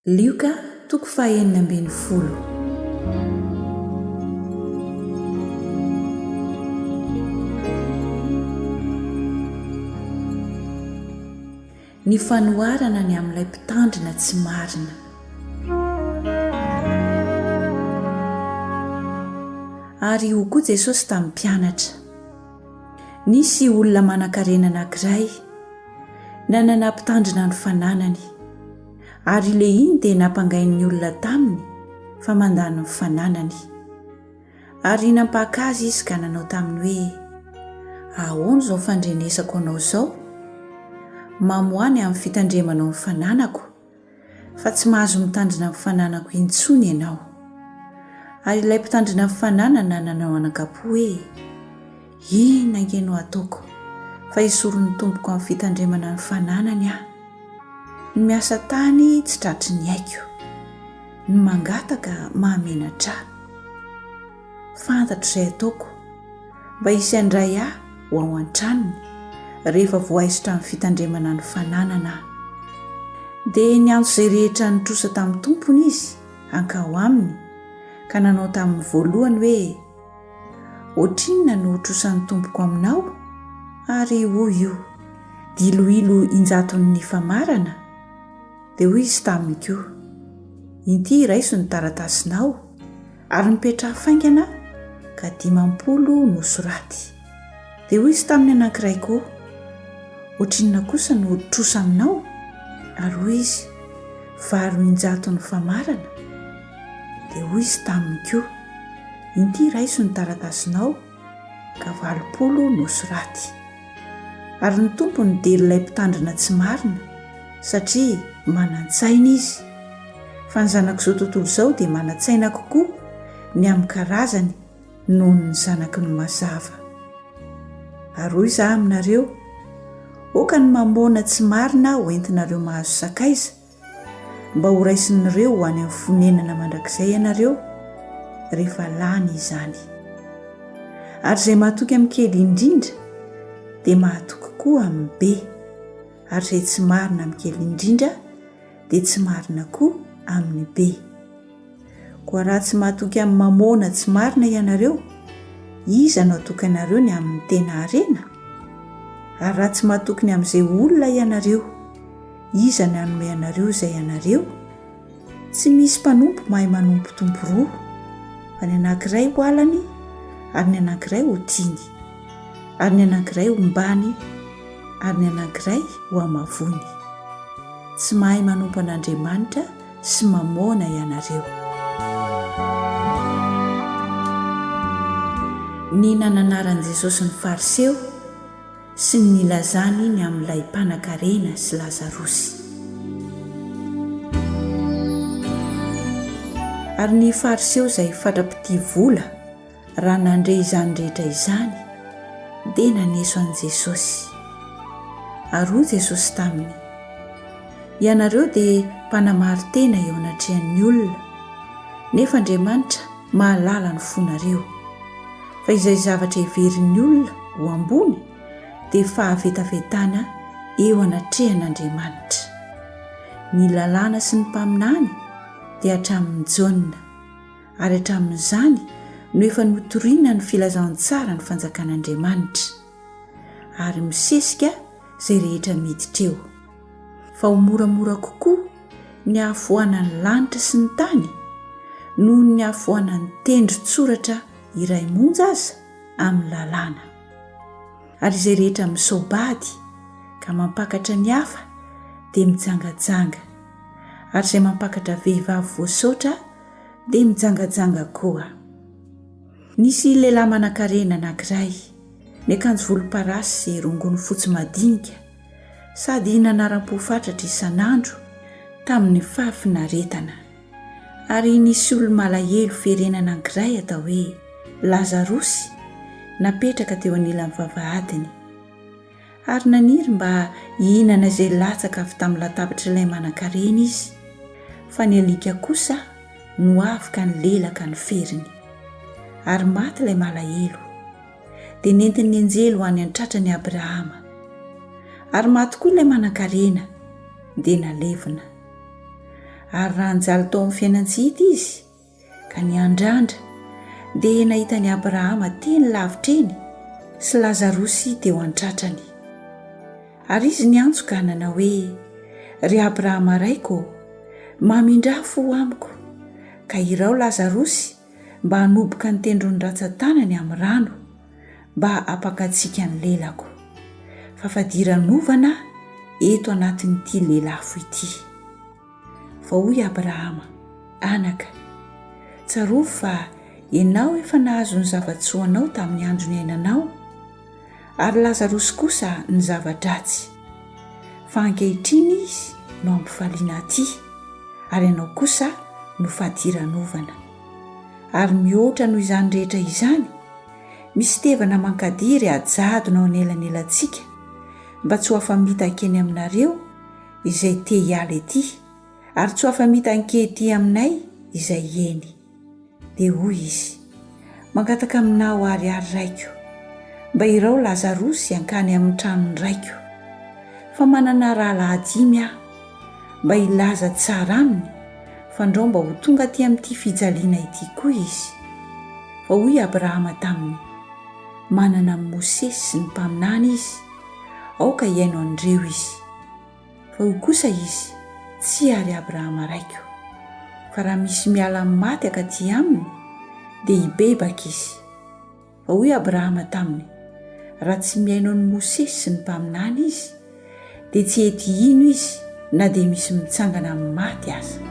Lioka toko fahenina ambin'ny folo. Ny fanoharana ny amin'ilay mpitandrina tsy marina. Ary hoy koa Jesosy tamin'ny mpianatra. Nisy olona manankarena anankiray nanana mpitandrina ny fananany, ary Lehiny dia nampangain'ny olona taminy fa mandany ny fananany. Ary nampaka azy izy ka nanao taminy hoe, Ahoana izao fandrenesako anao izao? Mamoa ny amin'ny fitandremanao ny fananako. fa tsy mahazo mitandrina ny fananako intsony ianao. Ary ilay mpitandrina ny fananana nanao anakapo hoe, Inona ange no ataoko fa hisoron'ny tompoko amin'ny fitandremana ny fananany aho. Ny miasa tany tsy tratry ny aiko. Ny mangataka mahamenatra ahy. Fantatro izay ataoko mba hisy handray ahy ho ao an-tranony rehefa voaisotra amin'ny fitandremana ny fananana aho. Dia niantso izay rehetra nitrosa tamin'ny tompony izy hankao aminy ka nanao tamin'ny voalohany hoe, Ohatrinona no ho trosan'ny tompoko aminao? Ary hoy io, Diloilo injaton'ny famarana. Dia hoy izy taminy koa, Inty iraiso ny taratasinao, Ary nipetraha faingana ka dimampolo no soraty. Dia hoy izy taminy anankiray koa, Ohatrinona kosa no trosa aminao? Ary hoy izy, Valo injato ny famarana. Dia hoy izy taminy koa, Inty raiso ny taratasinao. ka valopolo no soraty. Ary ny Tompo nidera ilay mpitandrina tsy marina satria manan-tsaina Izy. Fa ny zanak'izao tontolo izao dia manan-tsaina kokoa ny amin'ny karazany noho ny zanaky ny mazava. Ary hoy izaho aminareo, Oka ny mamôna tsy marina ho entinareo mahazo sakaiza, mba horaisin'ireo ho any amin'ny fonenana mandrakizay ianareo rehefa lany izany. Ary izay mahatoky amin'ny kely indrindra dia mahatoky koa amin'ny be, ary izay tsy marina amin'ny kely indrindra dia tsy marina koa amin'ny be. Koa raha tsy mahatoky amin'ny mamôna tsy marina ianareo, iza no hatoky anareo ny amin'ny tena harena? Ary raha tsy mahatoky ny amin'izay olona ianareo, iza no hanome anareo izay anareo? Tsy misy mpanompo mahay manompo tompo roa, fa ny anankiray ho alany ary ny anankiray ho tiany, ary ny anankiray hombany ary ny anankiray hohamavoany. Tsy mahay manompo an'Andriamanitra sy mamoana ianareo. Ny nananaran'i Jesosy ny Fariseo sy ny nilazany ny amin'ilay mpanankarena sy Lazarosy. Ary ny Fariseo izay fatra-pitia vola, Raha nandre izany rehetra izany, dia naneso an'i Jesosy. Ary hoy Jesosy taminy, Ianareo dia mpanamari-tena eo anatrehan'ny olona, nefa Andriamanitra mahalala ny fonareo. Fa izay zavatra heverin'ny olona ho ambony dia fahavetavetana eo anatrehan'Andriamanitra. Ny Lalàna sy ny Mpaminany dia hatramin'i Jaona. Ary hatramin'izany no efa notoriana ny filazantsara ny fanjakan'Andriamanitra, ary misesika izay rehetra miditra eo, fa ho moramora kokoa ny hahafoanan'ny lanitra sy ny tany noho ny hahafoanan'ny tendron-tsoratra iray monja aza amin'ny lalàna. Ary izay rehetra misao-bady ka mampakatra ny hafa dia mijangajanga, ary izay mampakatra vehivavy voasaotra dia mijangajanga koa. Nisy lehilahy manankarena anankiray, niakanjo volomparasy sy rongony fotsy madinika, sady nanaram-po fatratra isan'andro tamin'ny fahafinaretana. Ary nisy olo-malahelo ferena anankiray atao hoe Lazarosy napetraka teo anilan'ny vavahadiny. Ary naniry mba hihinana izay latsaka avy tamin'ny latabatr'ilay manankarena izy, fa ny alika kosa no avy ka nilelaka ny feriny. Ary maty ilay malahelo. Dia nentin'ny anjely ho any an-tratran'i Abrahama. Ary maty koa ilay manankarena, dia nalevina. Ary raha nijaly tao amin'ny fiainan-tsy hita izy, Ka ny andrandra dia nahita an'i Abrahama teny lavitra eny sy Lazarosy teo an-tratrany. Ary izy niantso ka nanao hoe, Ry Abrahama raiko ô, mamindrà fo ho amiko, ka iraho Lazarosy mba hanoboka ny tendron'ny ratsan-tanany amin'ny rano, mba hampankasiaka ny lelako. Fa fadiranovana aho eto anatin'ity lelafo ity. Vao hoy Abrahama, Anaka, tsarovy fa ianao efa nahazo ny zava-tsoanao tamin'ny andro niainanao, ary Lazarosy kosa ny zava-dratsy, fa ankehitriny izy no ampifaliana atỳ, ary ianao kosa no fadiranovana. Ary mihoatra noho izany rehetra izany, misy tevana mankadiry hajadona ao anelanelantsika, mba tsy ho afa-mitaka eny aminareo, izay te hiala ety ary tsy ho afa-mitan-kety aminay izay eny. Dia hoy izy, Mangataka aminao àry aho, raiko, mba irao Lazarosy hankany amin'ny tranon'ny raiko, fa manana rahalahy dimy aho, mba hilaza tsara aminy fa ndrao mba ho tonga aty amin'ity fijaliana ity koa izy. Fa hoy Abrahama taminy, Manana an'i Mosesy sy ny mpaminany izy, aoka hihaino an'ireo izy. Fa hoy kosa izy, Tsia, ry Abrahama raiko, fa raha misy miala amin'ny maty akaty aminy, dia hibebaka izy. Fa hoy Abrahama taminy, Raha tsy mihaino an'i Mosesy sy ny mpaminany izy, dia tsy hety hino izy na dia misy mitsangana amin'ny maty aza.